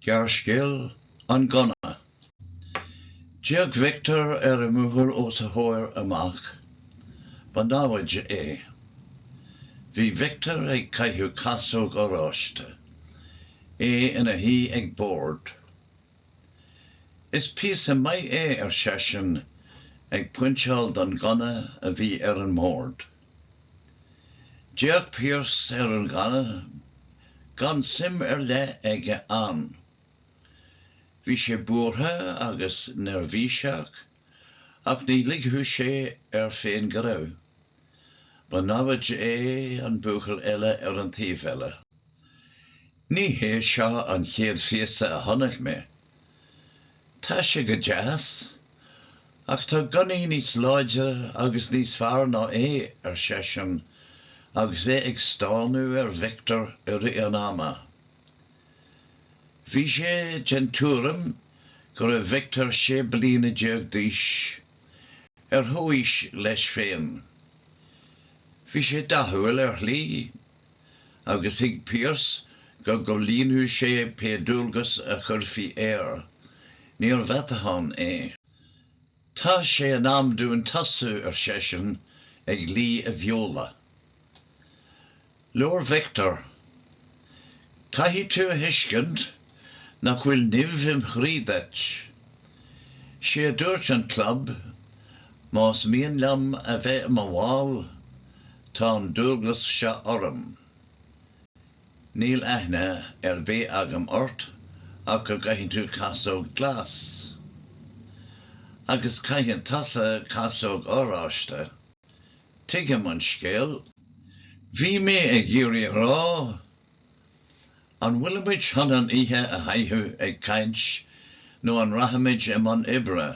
Gearrscéal, 'An Gunna'. D'fhéach Victor ar an mbóthar os a chomhair amach. Ba namhaid é. Bhí Victor ag caitheamh casóg oráiste. É ina shuí ag bord. 'Is píosa maith é, ar seisean, ag pointeáil don ghunna a bhí ar an mbord. D'fhéach Pearse ar an ghunna, gan suim ar leith aige ann. Bhí sé buartha agus neirbhíseach, ach ní ligfeadh sé air féin go raibh. Ba namhaid é an buachaill eile ar an taobh eile. Ní hé seo an chéad phíosa a chonaic mé, Tá sé go deas, ach tá gunnaí níos láidre agus níos fearr ná é, ar seisean, agus é ag stánadh ar Victor i rith an ama. Bhí sé den tuairim go raibh Victor sé bliana déag d'aois, ar chomhaois leis féin. Bhí sé dathúil, ar shlí. agus thuig Pearse go gcomhlíonfadh sé pé dualgas a chuirfí air. Níor mheatachán é. Tá sé in am dúinn tosú, ar seisean, ag lí a bheola. Labhair Victor. Caithfidh tú a thuiscint nach bhfuil nimh im chroí duit. Sé a dúirt an club, más mian liom a bheith i mo bhall, Tá an dualgas seo orm. Níl aithne ar bith agam ort ach go gcaitheann tú casóg glas. Agus caitheann tusa casóg oráiste. Tuigim an scéal. Bhí mé ag iarraidh a rá, an bhfuilimid chun an oíche a chaitheamh ag caint nó an rachaimid i mbun oibre?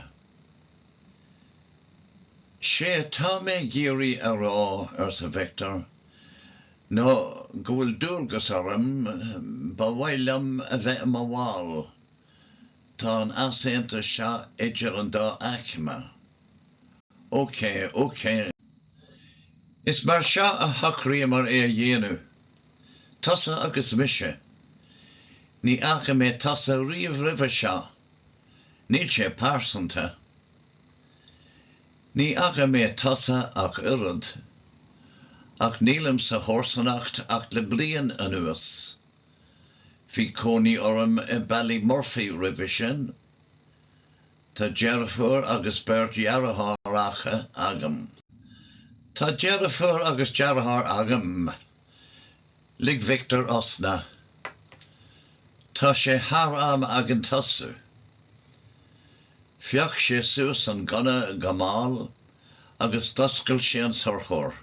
Sé atá mé ag iarraidh a rá, arsa Victor, ná go bhfuil dualgas orm, ba mhaith liom a bheith i mo bhall, tá an t-easaontas seo idir an dá aicme. Ócé, ócé. Is mar seo a shocraíomar é a dhéanamh, tusa agus mise. Ní fhaca mé tusa riamh roimhe seo. Níl sé pearsanta. Ní fhaca mé tusa ach oiread, ach nílim sa chomharsanacht ach le bliain anuas. Bhí cónaí orm i Ballymurphy roimhe sin. Tá deirfiúr agus beirt dheartháireacha agam. Tá deirfiúr agus deartháir agam. Lig Victor osna. Tá sé thar am againn tosú. Phioc sé suas an gunna go mall agus d'oscail sé an sorcóir.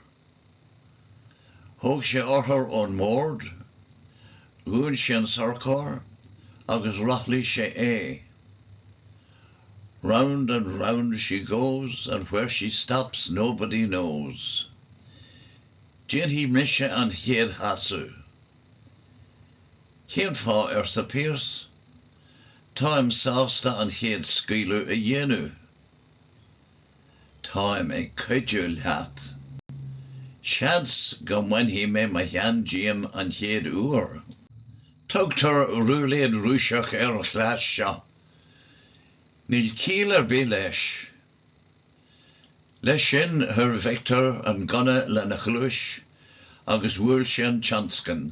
Thóg sé urchar ón mbord, dhún sé an sorcóir agus rothlaigh sé é. Round and round she goes and where she stops nobody knows. Déanfaidh mise an chéad chasadh. Cén fáth, arsa Pearse. Táim sásta an chéad scaoileadh a dhéanamh. Táim ag cuidiú leat. Seans go mbainfidh mé mo cheann díom an chéad uair. Tugtar rúiléid Rúiseach ar an chleas seo. Níl ciall ar bith leis. Leis sin, chuir Victor an gunna lena chluais agus bhuail sé an tionscan.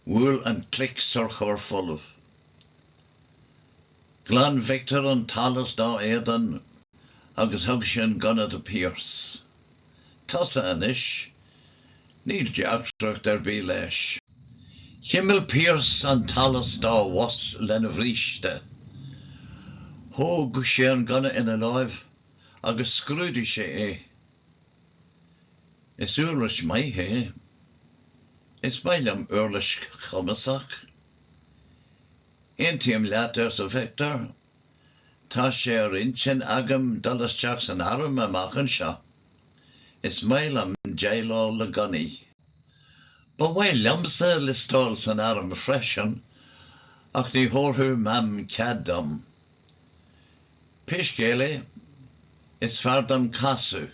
Bhuail an clic sorcóir folamh. Ghlan Victor an t-allas dá éadan agus thug sé an gunna do Pearse. Tusa anois. Níl deacracht ar bith leis. Chimil Pearse an t-allas dá bhos lena bhríste. Thóg sé an gunna ina láimh agus scrúdaigh sé é. Is uirlis maith é. Is maith liom uirlis chumasach. Aontaím leat, arsa Victor. Tá sé ar intinn agam dul isteach san arm amach anseo. Is maith liom déileáil le gunnaí. Ba mhaith liomsa liostáil san arm freisin, ach ní thabharfadh Mam cead dom. Pé scéal é, is fearr dom casadh.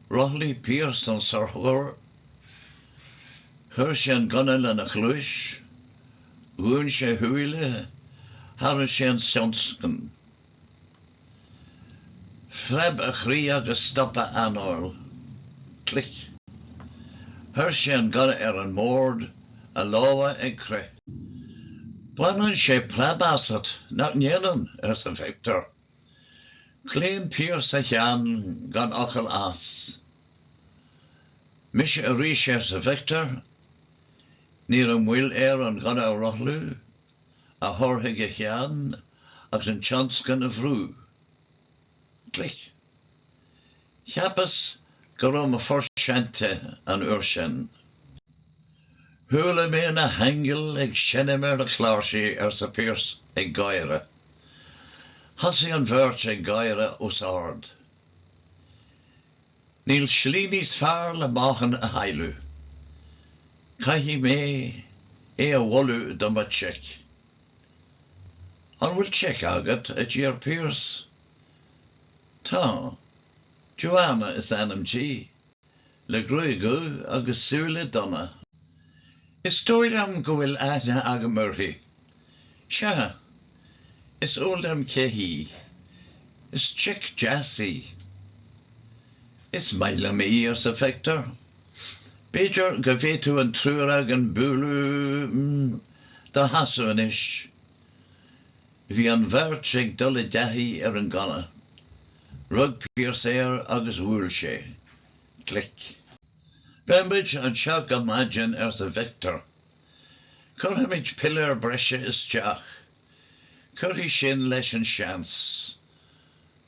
Rothlaigh Pearse an sorcóir, chuir sé an gunna lena chluais, Dhún sé a shúile, tharraing sé an tionscan. Phreab a chroí agus stop a anáil. Clic. Chuir sé an gunna ar an mbord, a lámha ag crith. Baineann sé preab asat, nach ndéanann? arsa Victor. Chlaon Pearse a cheann gan fhocal as. 'Mise arís, arsa Victor. 'Ní raibh moill air an gunna a rothlú, a thabhairt chuig a cheann agus an tionscan a bhrú. Clic. Cheapas go raibh mo phort seinte an uair sin. Chuala mé na haingil ag seinm ar na cláirsí, arsa Pearse ag gáire. Thosaigh an bheirt ag gáire os ard. Níl slí níos fearr le meáchan a chailleadh. Caithfidh mé é a mholadh do mo chic. An bhfuil chic agat? a d'iarr Pearse. Tá. Joanna is ainm di, le gruaig dhubh agus súile donna. Is dóigh liom go bhfuil aithne agam uirthi. Sea, is eol liom cé hí. Is chic deas í. Is maith liom í, arsa Victor. B'fhéidir go bhféadfadh an triúr againn bualadh. Do chasadh anois. Bhí an bheirt ag dul i dtaithí ar an gunna. Rug Pearse air agus bhuail sé. Clic. Beidh muid anseo go maidin, arsa Victor. Cuirfimid piléar breise isteach. Cuirfidh sin leis an seans.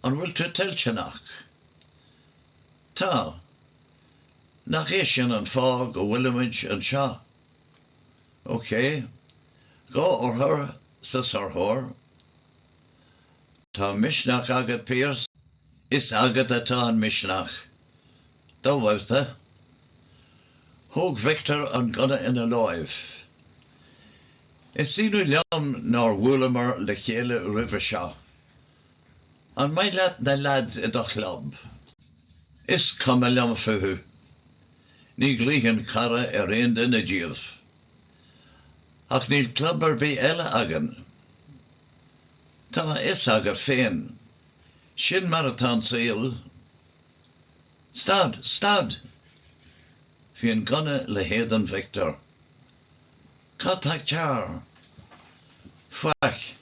An bhfuil tú toilteanach? Tá. Nach é sin an fáth go bhfuilimid anseo? OK, dhá urchar sa sorcóir. Tá misneach agat, Pearse. Is agat atá an misneach. Do bhabhta. Thóg Victor an gunna ina láimh. Is ionadh liom nár bhuaileamar le chéile roimhe seo. An maith leat na leaids i do chlub? Is cuma liom fúthu. Ní ghlaofainn cara ar aon duine díobh. Ach níl club ar bith eile againn. Tá a fhios agat féin. Sin mar atá an saol. Stad! Stad! Bhí an gunna le héadan Victor. Cad tá cearr? Faic.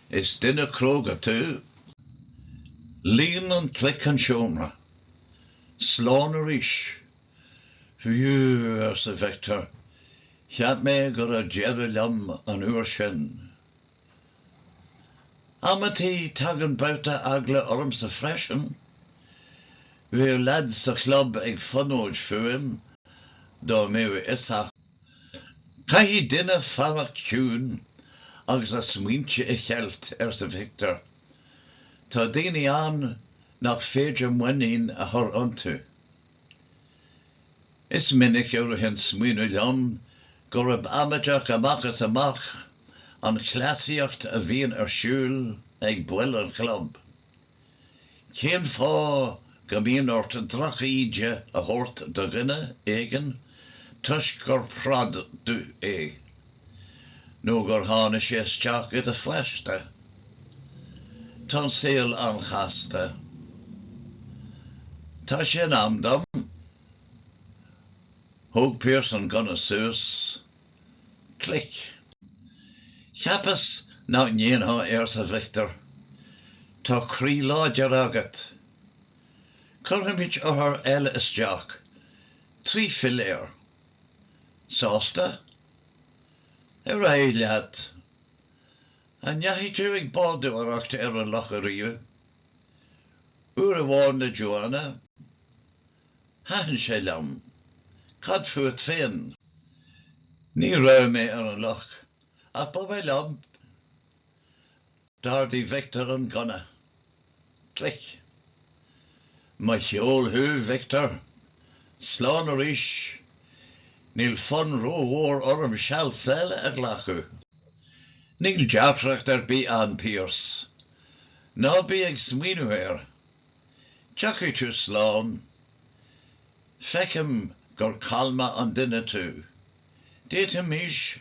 Is duine cróga tú. Líon an clic an seomra. Slán arís! Phew arsa Victor, cheap mé go raibh deireadh liom an uair sin. Amantaí tagann babhta eagla ormsa freisin. Bheadh leads sa chlub ag fonóid fúm dá mbeadh a fhios acu. Caithfidh duine fanacht ciúin agus a smaointe a cheilt, arsa Victor. Tá daoine ann nach féidir muinín a chur iontu. Is minic a ritheann smaoineamh liom gurb amaideach amach is amach an chleasaíocht a bhíonn ar siúl ag baill an chlub. Cén fáth go mbíonn ort droch-íde a thabhairt do dhuine éigin toisc gur 'prod' é? Nó gur tháinig sé isteach i do phaiste. Tá an saol an-chasta. Tá sé in am dom. Thóg Pearse an gunna suas. Clic. Cheapas nach ndéanfá é arsa Victor. Tá croí láidir agat. Cuirfimid urchar eile isteach. Trí philéar. Sásta? Ar aghaidh leat. An ndeachaigh tú ag bádóireacht ar an loch ariamh? Uair amháin le Joanna. Thaitin sé liom. Cad fút féin? Ní raibh mé ar an loch, ach ba mhaith liom. D'ardaigh Victor an gunna. Clic. Mo cheol thú, Victor. Slán arís. Níl fonn rómhór orm seal eile a ghlacadh. Níl deacracht ar bith ann, Pearse. Ná bí ag smaoineamh air. Tiocfaidh tú slán. Feicim gur calma an duine tú. D'fhéadfaimis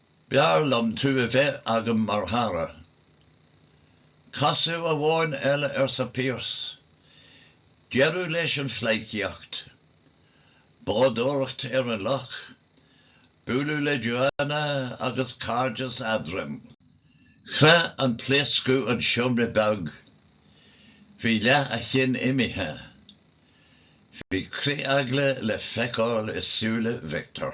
B'fhearr liom tú a bheith agam mar chara. Casadh amháin eile, arsa Pearse. Deireadh leis an phleidhcíocht. Bádóireacht ar an loch, bualadh le Joanna agus cairdeas eadrainn. Chroith an pléascadh an seomra beag. Bhí leath a chinn imithe. Bhí critheagla le feiceáil i súile Victor.